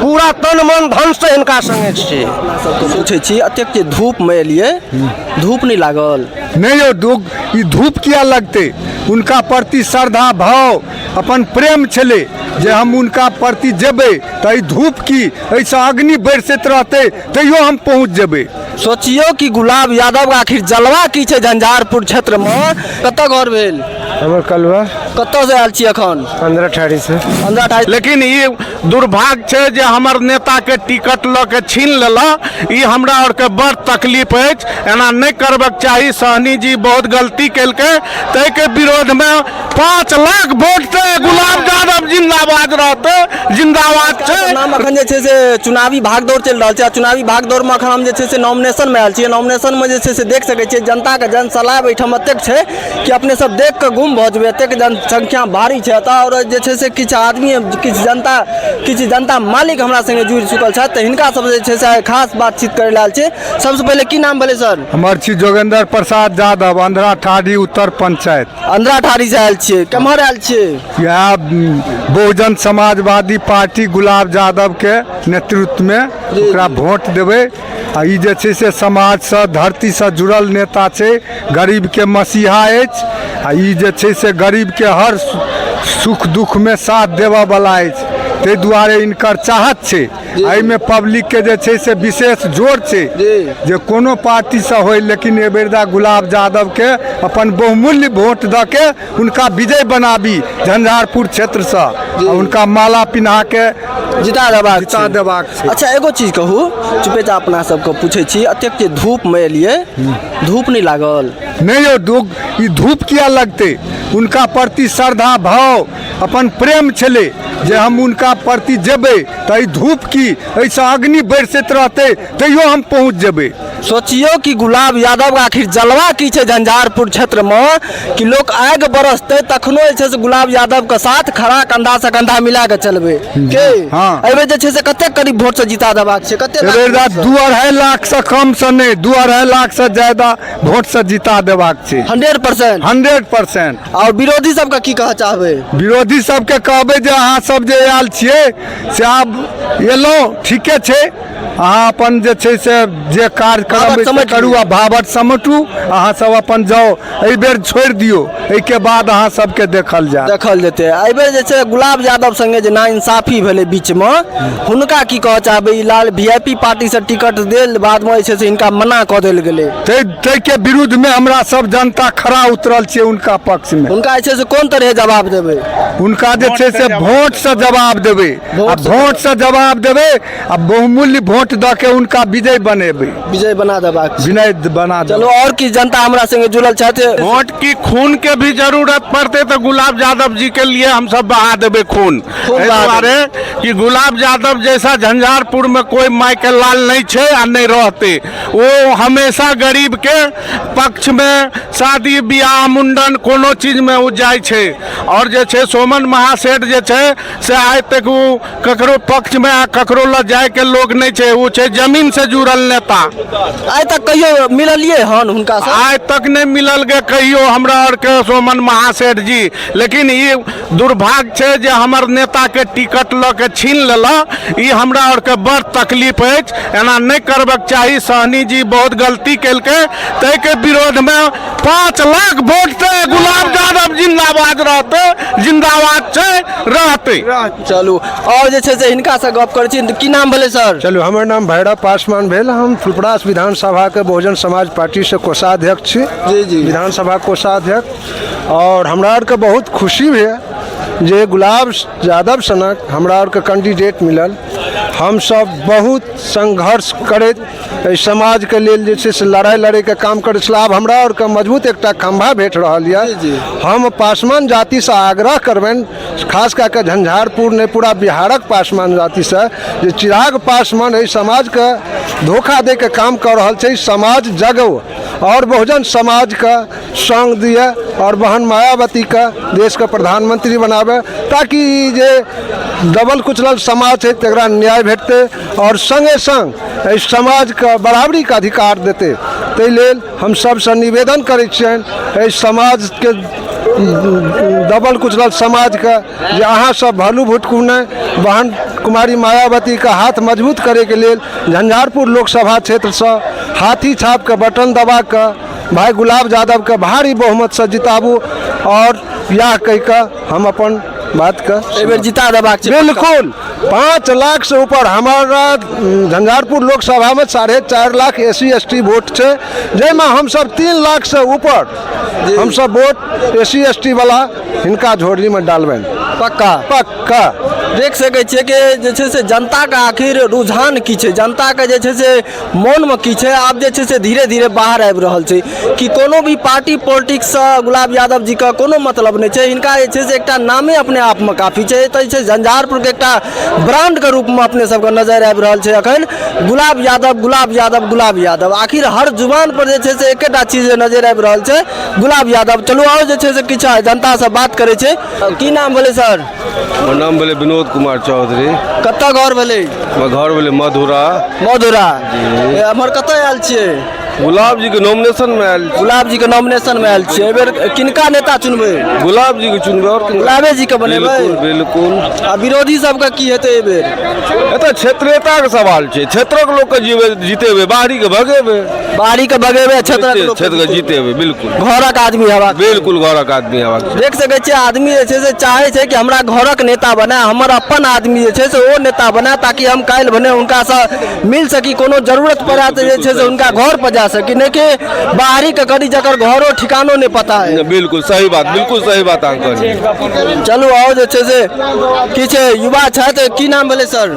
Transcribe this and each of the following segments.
पूरा तन मन धन से हिनका संगे छी पूछै छी एतेक जे धूप मे एलियै धूप नहि लागल नहि यौ धूप ई धूप किया लगतै हुनका प्रति श्रद्धा भाव अपन प्रेम छलै जे हम हुनका प्रति जेबै तऽ ई धूप की एहिसँ अग्नि बरसैत रहतै तैयो हम पहुँच जेबै सोचियो कि गुलाब यादव आखिर जलवा की छै झंझारपुर क्षेत्र मे कतऽ घर भेल हमर कलवा कतऽ से आयल छी अखन पंद्रह ठाड़ी से पंद्रह ठाड़ी लेकिन ई दुर्भाग्य छै जे हमर नेता के टिकट लऽ के छीन लेला ई हमरा आर के बड़ तकलीफ अछि एना नहि करबक चाही सहनी जी बहुत गलती केलकै ताहि के विरोध मे पाँच लाख वोट से गुलाब यादव जिंदाबाद रहते जिंदाबाद छै नाम अखन जे छै से चुनावी भागदौड़ चलि रहल छै आ चुनावी भागदौड़मे अखन हम जे छै से नॉमिनेशनमे आयल छियै नॉमिनेशनमे जे छै से देख सकै छियै जनताके जनसलाह एहिठाम एतेक छै कि अपने सब देख कऽ गुम भऽ जेबै एतेक जनसंख्या भारी छै एतऽ आओर जे छै से किछु आदमी किछु जनता किछु जनता मालिक हमरा संगे जुड़ि चुकल छथि तऽ हिनका सब जे छै से आइ खास बातचीत करै लाल छै सबसँ पहिले की नाम भेलै सर हमर छी जोगेंद्र प्रसाद यादव अंधरा ठाढ़ी उत्तर पंचायत अंधरा ठारी से आयल छियै केम्हर आयल छियै यहाँ बहुजन समाजवादी पार्टी गुलाब यादवके नेतृत्वमे ओकरा वोट देबै आ ई जे छै से समाजसँ धरतीसँ जुड़ल नेता छै गरीबके मसीहा अछि आ ई जे छै से गरीबके हर सु- सुख दुखमे साथ देबऽवला अछि ताहि दुआरे इनकर चाहत छै एहिमे पब्लिकके जे छै से विशेष जोर छै जे कोनो पार्टीसँ होय लेकिन एहि बेर दा गुलाब यादवके अपन बहुमूल्य वोट दऽ के हुनका विजय बनाबी झंझारपुर क्षेत्रसँ हुनका माला पिन्हा के जिता देबाक जिता देबाक छै अच्छा एगो चीज कहू चुपे चा अपना सबके पूछै छी एतेक जे धूपमे एलियै धूप नहि लागल नहि यौ ई धूप किया लगतै हुनका प्रति श्रद्धा भाव अपन प्रेम छलै जे हम हुनका प्रति जेबै तऽ ई धूप की एहिसँ अग्नि बरसैत रहतै तैयो हम पहुँच जेबै सोचियौ कि गुलाब यादव आखिर जलवा की छै झंझारपुर क्षेत्रमे कि लोक आगि बरसतै तखनो जे छै से गुलाब यादवके साथ खड़ा कंधासँ कंधा मिला कऽ चलबै के हँ। एहिबेर जे छै से कतेक करीब वोटसँ जिता देबाक छै कतेक एहि बेर दा दू अढ़ाइ लाखसँ कमसँ नहि दू अढ़ाइ लाखसँ ज्यादा वोटसँ जिता देबाक छै हंड्रेड परसेंट हंड्रेड परसेंट आओर विरोधी सबके की कहऽ चाहबै विरोधी सबके कहबै जे अहाँ सब जे आयल छियै से आब एलहुँ ठीके छै अहाँ अपन जे छै से जे कार्यक्रम भावट अछि से समटि करू लिअ। आ भावट समटू अहाँ सब अपन जाउ एहि बेर छोड़ि दियौ एहिके बाद अहाँ सबके देखल जाय देखल जेतै एहिबेर जे छै गुलाब यादव संगे जे नाइंसाफी भेलै बीचमे हुनका की कहऽ चाहबै ई लाल वी आई पी पार्टीसँ टिकट देल बादमे जे छै से हिनका मना कऽ देल गेलै ताहि ताहिके विरुद्धमे हमरा सब जनता खड़ा उतरल छियै हुनका पक्षमे हुनका जे छै से कोन तरहे जवाब देबै हुनका जे छै से वोटसँ जवाब देबै आ वोटसँ वोटसँ जवाब देबै आ बहुमूल्य वोट दऽ के हुनका विजय बनेबै विजय बना देबाक छै। विनय बना चलो देबै और की जनता हमरा संगे जुड़ल छथि वोट की खून के भी जरूरत पड़ते तो गुलाब यादव जी के लिए हम सब बहा देबे खून खून एहि बहा दुआरे कि गुलाब यादव जैसा झंझारपुर में कोई माई के लाल नहीं छे आ नहीं रहते ओ हमेशा गरीब के पक्ष मे शादी बियाह मुंडन कोनो चीज मे ओ जाइ छै आओर जे छै सोमन महासेठ जे छै से आइ तक ओ ककरो पक्ष मे आ ककरो लऽ जाय के लोग नहि छै ओ छै जमीन से जुड़ल नेता आइ तक कहियो मिललिए हन हुनका से आइ तक नहि मिलल गे कहियो हमरा आरके सोमन महासेठ जी लेकिन ई दुर्भाग्य छै जे हमर नेताके टिकट लऽ के छीन लेलऽ ई हमरा आरके बड़ तकलीफ अछि एना नहि करबक चाही सहनी जी बहुत गलती केलकै ताहिके विरोधमे पाँच लाख वोट से गुलाब यादव जिंदाबाद रहतै जिंदाबाद छै रहतै चलू आओर जे छै से हिनकासँ गप करै छी की नाम भेलै सर चलू हमर नाम भैरव पासवान भेल हम फुलपरास विधानसभाके बहुजन समाज पार्टीसँ कोषाध्यक्ष छी जी, जी। विधानसभा कोषाध्यक्ष आओर हमरा आरके बहुत खुशी होइए जे गुलाब यादव सनक हमरा आरके कैंडिडेट मिलल हमसभ बहुत संघर्ष करैत एहि समाजके लेल जे छै से लड़ाइ लड़ैके काम करै छलहुँ आब हमरा आरके मजबूत एकटा खम्भा भेट रहल यए हम पासवान जातिसँ आग्रह करबनि खास कए कऽ झंझारपुर नहि पूरा बिहारक पासवान जातिसँ जे चिराग पासवान एहि समाजके धोखा दैके काम कऽ रहल छै समाज जगौ आओर बहुजन समाजके संग दिए और बहन मायावती के देश के प्रधानमंत्री बनाबे ताकि ई जे दबल कुचलल समाज छै तकरा न्याय भेटतै और संगे संग एहि समाज के बराबरी के अधिकार देतै ताहि लेल हम सबसँ निवेदन करै छियनि एहि समाज के दबल कुचलल समाज के जे अहाँ सब भलू भुटकू नहि बहन कुमारी मायावती के हाथ मजबूत करैके लेल झंझारपुर लोकसभा क्षेत्र सँ हाथी छाप के बटन दबा कऽ भाई गुलाब यादव के भारी बहुमत से जिताबू और यह कह के हम अपन बात के एहि बेर जिता देबाक छै बिल्कुल पाँच लाख से ऊपर हमारा उम, झंझारपुर लोकसभा में साढ़े चार lakh S C S T vote छै जाहिमे हमसब तीन लाख से ऊपर हमसब vote S C S T वाला हिनका झोली में डालबनि पक्का पक्का देख सकै छियै कि जे छै से जनताके आखिर रुझान की छै जनताके जे छै से मोनमे की छै आब जे छै से धीरे धीरे बाहर आबि रहल छै कि कोनो भी पार्टी पॉलिटिक्ससँ गुलाब यादव जीके कोनो मतलब नहि छै हिनका जे छै से एकटा नामे अपने आपमे काफी छै एतऽ जे छै झंझारपुरके एकटा ब्रांडके रूपमे अपने सबके नजर आबि रहल छै अखन गुलाब यादव गुलाब यादव गुलाब यादव आखिर हर जुबान पर जे छै से एकेटा चीज नजर आबि रहल छै गुलाब यादव चलू आओर जे छै से किछु जनतासँ बात करै छै की नाम भेलै सर हमर नाम भेलै विनोद कुमार चौधरी कतऽ घर भेलै हमर घर भेलै मधुरा मधुरा ए, हमर कतऽ आयल छियै गुलाब जी के नॉमिनेशन में आयल छी। गुलाब जी के नॉमिनेशन में आयल छियै एहि बेर किनका नेता चुनबै गुलाब जी के चुनबै और किनका? गुलाबे जी के बनेबै बिल्कुल बिल्कुल आ विरोधी सबके की हेतै एहि बेर एतऽ क्षेत्रीयता के सवाल छै क्षेत्रक लोक के जीवे जीतेबै बाहरी के भगेबै बाड़ी के बगेबे क्षेत्रक लोक क्षेत्र के जीते हुए बिल्कुल घरक आदमी हेबाक बिल्कुल घरक आदमी हेबाक चाही। देख सकै छियै आदमी जे छै से चाहै छै कि हमरा घरक नेता बने हमर अपन आदमी जे छै से ओ नेता बने ताकि हम काल्हि भने हुनकासँ मिल सकी कोनो जरूरत पड़ा तऽ जे छै से हुनका घर पर जा सकी नहि कि बाहरी के करी जकर घरो ठिकानो नहि पता है बिल्कुल सही बात बिल्कुल सही बात अहाँ कहलियै चलू आओर जे छै से किछु युवा छथि की नाम भेलै सर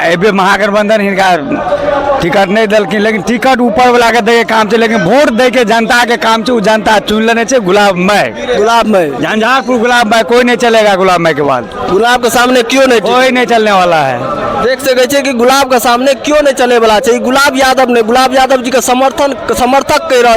एहिबेर महागठबंधन हिनका टिकट नहीं दिलखिन लेकिन टिकट ऊपर वाला के दैके काम छै लेकिन वोट दैके जनता के काम छै ओ जनता चुनि लेने छै गुलाब माय गुलाब माय झंझारपुर गुलाब माय कोई नहीं चलेगा गुलाब माय के बाद गुलाब के सामने क्यों नहीं कोई नहीं चलने वाला है देख सके छे कि गुलाब के सामने क्यों नहीं चले वाला छै गुलाब यादव ने गुलाब यादव जी के समर्थन समर्थक कह रहा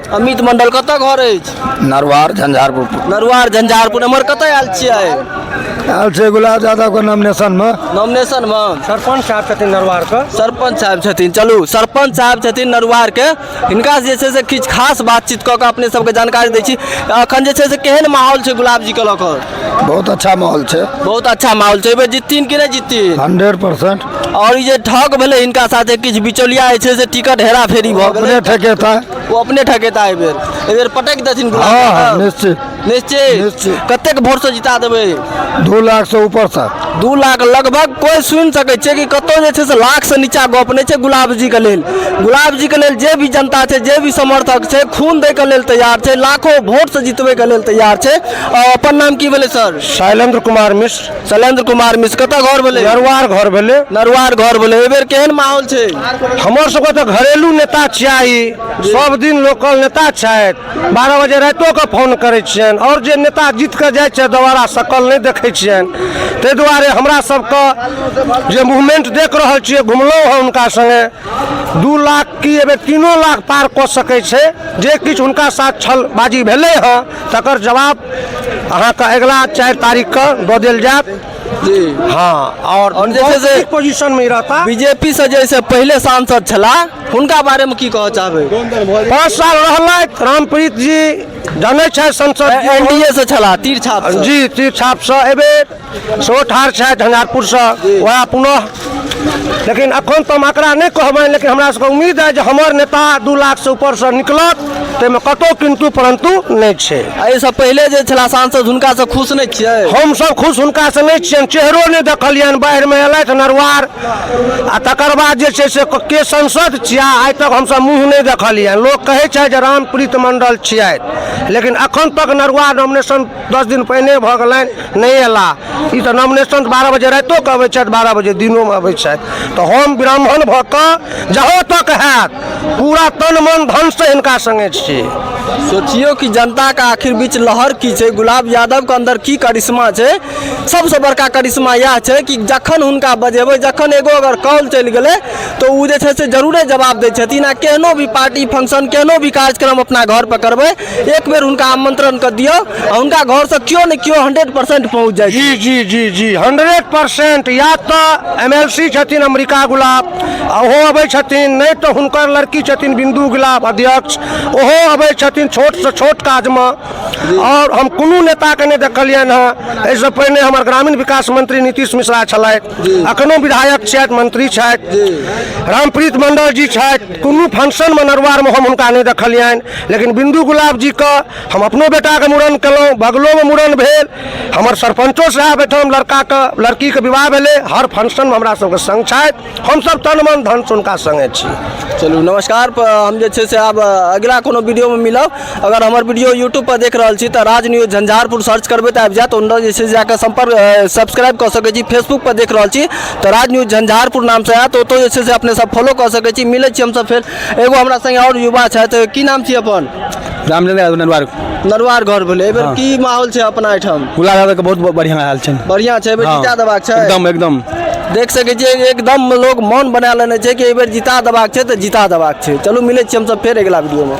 अमित मंडल कतऽ घर अछि नरवार झंझारपुर नरुआर झंझारपुर एम्हर कतऽ आयल छियै आयल छै गुलाब यादवके नॉमिनेशनमे नॉमिनेशन मे सरपंच साहब छथिन नरवारके सरपंच साहब छथिन चलू सरपंच साहब छथिन नरुआरके हिनका जे छै से किछु खास बातचीत कऽ कऽ अपने सबके जानकारी दै छी अखन जे छै से केहन माहौल छै गुलाब जीके लऽ कऽ बहुत अच्छा माहौल छै बहुत अच्छा माहौल छै एहि बेर जितथिन कि नहि जितथिन हंड्रेड परसेंट और ई जे ठग भेलै हिनका साथे किछु बिचौलिया जे छै से टिकट हेरा फेरी भऽ गेलै अपने ठकेता ओ अपने ठकेता एहि बेर एहि बेर पटक देथिन गुलाब हँ हँ बाबा। निश्चित निश्चित निश्चित। कतेक वोट से जिता देबै दू लाख से ऊपर से दू लाख लगभग कोई सुनि सकै छै कि कतौ जे छै से लाख से नीचा गप नहि छै गुलाब जी के लेल गुलाब जी के लेल जे भी जनता छै जे भी समर्थक छै खून दै के लेल तैयार छै लाखो वोट से जितबै के लेल तैयार छै आ, अपन नाम की भेलै सर शैलेंद्र कुमार मिश्र शैलेंद्र कुमार मिश्र कतऽ घर भेलै नरवार घर भेलै नरवार घर भेलै एहि बेर केहन माहौल छै हमर सबके तऽ घरेलू नेता चाही सब दिन लोकल नेता छथि बारह बजे रातिओ के फोन करै छियनि आओर जे नेता जीत कऽ जाइ छै दोबारा सकल नहि देखै छियनि ताहि दुआरे हमरा सबके जे मूवमेंट देख रहल छियै घुमलहुँ हँ हुनका संगे दू लाख की एहि बेर तीनो लाख पार कऽ सकै छै जे किछु हुनका साथ छलबाजी भेलै हँ तकर जवाब अहाँके अगिला चारि तारीखके दऽ देल जायत जी हँ आओर आओर जे छै से- बहुत पोजीशन में रहता बीजेपी से जैसे पहले सांसद छला हुनका बारे में की कह चाहबे पाँच साल रहलथि रामप्रीत जी जनै छथि संसद एनडीए से छला तीर छाप से। जी तीर छाप से एबे सेहो ठाढ़ छथि झंझारपुरसँ वएह पुनः लेकिन अखन तऽ हम एकरा नहि कहबनि लेकिन हमरा सबके उम्मीद है जे हमर नेता दू लाख से ऊपर से निकलत ताहिमे कतहु किन्तु परन्तु नहि छै एहिसँ पहिले जे छला सांसद हुनकासँ खुश नहि छियै हमसभ खुश हुनकासँ नहि छियनि चेहरो नहि देखलियनि बाढ़िमे एलथि नरवार आ तकर बाद जे छै से के संसद छिया आइ तक हमसभ मुँह नहि देखलियनि लोक कहै छै जे रामप्रीत मण्डल छियथि लेकिन अखन तक नरवार नॉमिनेशन दस दिन पहिने भऽ गेलनि नहि अयला ई तऽ नॉमिनेशन बारह बजे रातिओ कऽ अबै छथि बारह बजे दिनोमे अबै छथि तऽ हम ब्राह्मण भऽ कऽ जहाँ तक हैत पूरा तन मन धनसँ हिनका सङ्गे छी सोचियो कि जनता का आखिर बीच लहर की छै गुलाब यादव के अंदर की करिश्मा छै सबसे बड़का करिश्मा यह छै कि जखन हुनका बजेबै जखन एगो अगर कॉल चलि गेलै तो ओ जे छै से जरूरे जवाब दै छथिन आ केहनो भी पार्टी फंक्शन केहनो भी कार्यक्रम अपना घर पर करबै एक बेर हुनका आमंत्रण कर दियो हुनका घर से क्यों ने क्यों हंड्रेड परसेंट पहुंच जाए जी जी जी जी हंड्रेड परसेंट या तो एम एल सी छथिन अमरीका गुलाब ओहो अबै छथिन नहीं तो हुनकर लड़की छथिन बिंदु गुलाब अध्यक्ष ओहो अबै छथिन छोट से छोट काज में और हम कोनो नेता के नहीं देखलियन हँ ऐसे पहिने हमर ग्रामीण विकास मंत्री नीतीश मिश्रा छलथि अखनो विधायक छथि मंत्री छथि रामप्रीत मंडल जी छथि कोनो फंक्शनमे नरवारमे हम हुनका नहि देखलियनि लेकिन बिन्दु गुलाब जीके हम अपनो बेटाके मूड़न केलहुँ बगलोमे मूड़न भेल हमर सरपंचो साहब एहिठाम लड़काके लड़कीके विवाह भेलै हर फंक्शनमे हमरा सबके संग छथि हमसब तन मन धनसँ हुनका संगे छी चलू नमस्कार प- हम जे छै से आब अगिला कोनो वीडियोमे मिलब अगर हमर वीडियो यूट्यूब पर देख रहल छी तऽ राज न्यूज झंझारपुर सर्च करबै तऽ आबि जायत ओनर जे छै जाकऽ सम्पर्क सब्सक्राइब कऽ सकैत छी फेसबुक पर देख रहल छी तऽ राज न्यूज झंझारपुर नामसँ आयत ओतौ जे छै से अपने सब फॉलो कऽ सकैत छी मिलै छी हमसब फेर एगो हमरा संगे आओर युवा छथि की नाम छी अपन रामचंद्र यादव नरवार नरवार घर भेलै एहिबेर की माहौल छै अपना एहिठाम गुलाब यादव के बहुत बढ़िया हाल छै बढ़िया छै एहिबेर जीता देबाक छै एकदम एकदम देख सकै छियै एकदम लोग मन बना लेने छै कि एहिबेर जिता देबाक छै तऽ जिता देबाक छै चलू मिलै छी हमसब फेर अगिला वीडियोमे